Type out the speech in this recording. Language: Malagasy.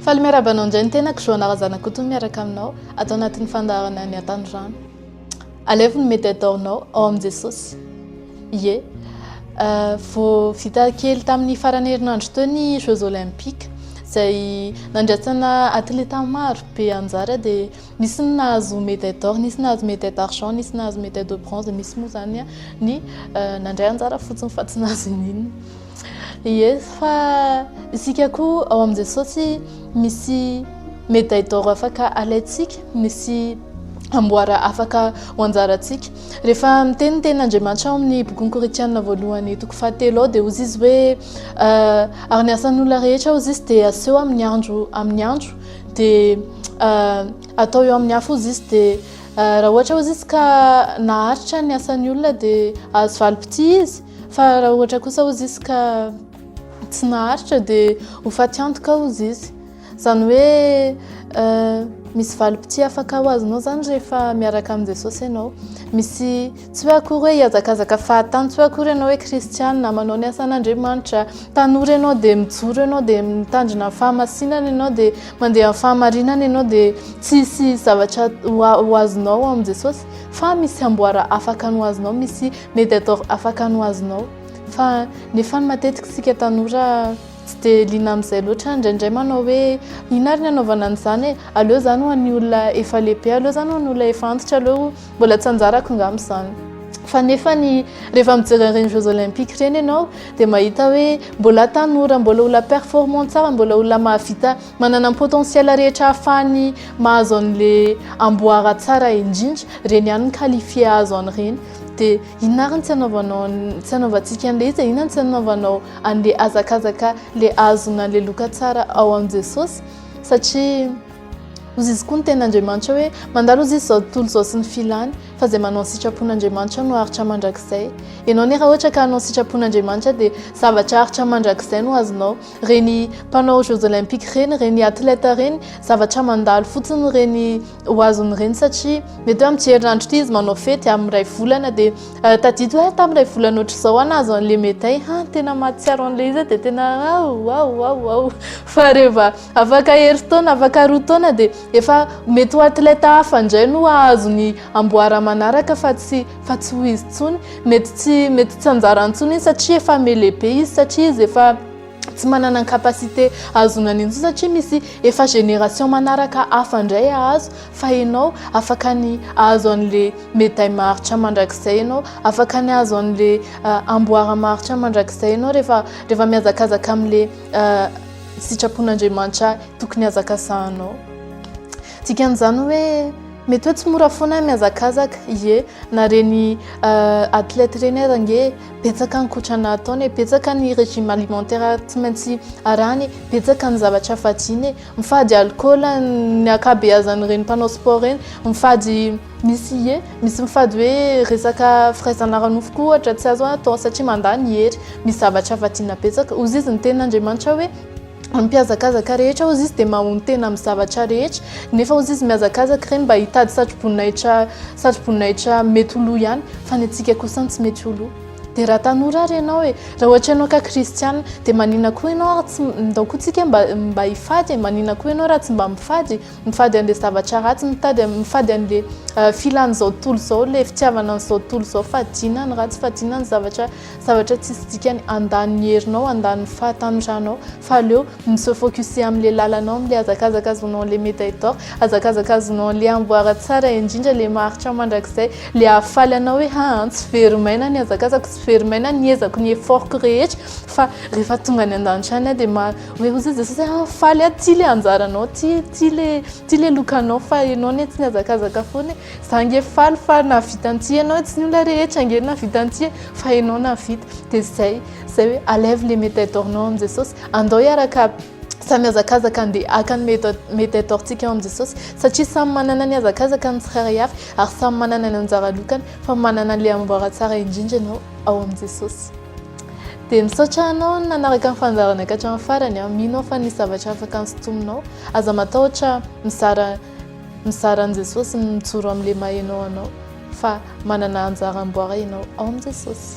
Faly miarahaba anao indray ny tenako Joana Razanakoto miaraka aminao ato anatin'ny fandaharana ny Atanorano. Alevo ny mety ataonao ao amin'i Jesosy. Ie. Euh, vao vita kely tamin'ny farany herinandro teo ny Jeux Olympiques izay nandraisana atleta maro be anjara dia Nisy ny nahazo médaille d'or, nisy nahazo médaille d'argent, nisy nahazo médaille de bronze, misy moa zany ny nandray anjara fotsiny fa tsy nahazo n'inona. Ie, fa isika koa ao amin'i Jesosy misy médaille d'or afaka alaintsika, misy amboara afaka ho anjarantsika. Rehefa miteny ny tenin'Andriamanitra ao amin'ny bokin'i Korintiana voalohany toko fahatelo ao dia hozy izy hoe ary ny asan'olona rehetra hozy izy dia aseho amin'ny andro amin'ny andro dia atao eo amin'ny hafa ozy izy dia raha ohatra ozy izy ka naharitra ny asan'ny olona dia azo valim-pitia izy fa raha ohatra kosa ozy izy ka tsy naharitra dia ho fatiantoka ozy izy izany hoe misy valim-pitia afaka ho azonao izany rehefa miaraka amin'i Jesosy ianao misy Tsy hoe akory hoe hihazakazaka fahatany, tsy hoe akory ianao hoe kristianina, manao ny asan'Andriamanitra, tanora ianao dia mijoro ianao dia mitandrina ny fahamasinana ianao dia mandeha amin'ny fahamarinana ianao dia tsy hisy zavatra ho azonao ao amin'i Jesosy fa misy amboara afaka ny ho azonao, misy mediator afaka ny ho azonao fa nefa ny matetika isika tanora tsy dia liana amin'izay loatra, indraindray manao hoe inona ary ny hanaovana an'izany e, aleo izany ho an'ny olona efa lehibe, aleo izany ho an'ny olona efa antitra, aleo. Mbola tsy anjarako ngamba izany. Fa nefa ny rehefa mijery ireny Jeux Olympiques ireny ianao dia mahita hoe mbola tanora, mbola olona performant tsara, mbola olona mahavita manana ny potentiel rehetra hahafahany mahazo an'le amboara tsara indrindra, ireny ihany ny qualifier hahazo an'ireny. Dia inona ary ny tsy anaovanao ny tsy anaovantsika an'le izy e? Inona ny tsy anaovanao an'le hazakazaka le ahazoana an'le loka tsara ao amin'i Jesosy? Satria. Hozy izy koa ny tenin'Andriamanitra hoe, Mandalo hozy izy izao tontolo izao sy ny filany, fa izay manao ny sitrapon'Andriamanitra no haharitra mandrakizay. Ianao anie raha ohatra ka hanao ny sitrapon'Andriamanitra dia zavatra haharitra mandrakizay no azonao. Ireny mpanao jeux olympiques ireny, ireny athlètes ireny, zavatra mandalo fotsiny ireny ho azony ireny satria mety hoe amin'ity herinandro ity izy manao fety, amin'ny iray volana dia tadidy hoe tamin'ny iray volana ohatr'izao aho nahazo an'ilay médaille, han tena mahatsiaro an'ilay izy aho dia tena aouaouaouaou fa reva Afaka herintaona, afaka roa taona dia efa mety ho athlète hafa indray no hahazo ny amboara manaraka fa tsy fa tsy ho izy intsony. Mety tsy mety tsy anjara intsony iny satria efa mele be izy satria izy efa tsy manana ny capacité hahazoana an'iny intsony satria misy efa génération manaraka hafa indray hahazo fa ianao afaka ny hahazo an'le médaille maharitra mandrakizay ianao, afaka ny hahazo an'le amboara maharitra mandrakizay ianao rehefa rehefa mihazakazaka amin'le sitrapon'Andriamanitra ahy, tokony hazakazahanao. Dikan'izany hoe mety hoe tsy mora foana mihazakazaka, ie na reny athlète reny aza ange betsaka ny kotrana ataony e, betsaka ny régime alimentaire tsy maintsy arahany e, betsaka ny zavatra hafa adino e, mifady alcool ny ankabeazan'ireny mpanao sport ireny, mifady Misy ie, misy mifady hoe resaka firaisana ara-nofo koa ohatra tsy azo atao satria mandà ny hery. Misy zavatra avadiana betsaka. Hozy izy ny tenin'Andriamanitra hoe, Ny mpihazakazaka rehetra, hozy izy, dia mahonon-tena amin'ny zavatra rehetra. Nefa hozy izy mihazakazaka ireny mba hitady satroboninahitra, satroboninahitra mety ho lo ihany, fa ny antsika kosa no tsy mety ho lo. Dia raha tanora ary ianao e! Raha ohatra ianao ka kristiana, dia maninona koa ianao ary tsy, ndao koa tsika mba, mba hifady e! Maninona koa ianao raha tsy mba mifady? Mifady an'ilay zavatra ratsy, mitady, mifady an'ilay filan'izao tontolo izao, ilay fitiavana an'izao tontolo izao. Fadiana ny ratsy, fadiana ny zavatra, zavatra tsisy dikany. Handany ny herinao, handany ny fahatanorànao. Fa aleo mi-se focuser amin'ilay lalanao, amin'ilay hazakazaka azonao an'ilay médaille d'or, hazakazaka azonao an'ilay amboara tsara indrindra, ilay maharitra mandrakizay, ilay hahafaly anao hoe ha an, tsy very maina ny hazakazako, tsy very maina ny ezako, ny effort-ko rehetra, fa rehefa tonga any an-danitra any aho dia ma-. Hoe hoy zao Jesosy hoe, faly aho tsy ilay anjaranao, tsy tsy ilay tsy ilay lokanao fa ianao anie tsy nihazakazaka foana e. Za ange faly fa nahavita an'ity ianao, tsy ny olona rehetra ange nahavita an'ity e, fa ianao nahavita. Dia izay izay hoe enlève les médailles d'or-nao amin'i Jesosy, andao hiaraka samy hihazakazaka handeha haka ny médaille médaille d'or-ntsika ao amin'i Jesosy satria samy manana ny hazakazaka ny tsirairay avy ary samy manana ny anjara lokany fa manana an'ilay amboara tsara indrindra ianao ao amin'i Jesosy. Dia misaotra anao nanaraka ny fandaharana ka hatramin'ny farany an. Mino aho fa nisy zavatra afaka nosintominao. Aza matahotra mizara mizara an'i Jesosy, mijoro amin'ilay maha ianao anao fa manana anjara amboara ianao ao amin'i Jesosy.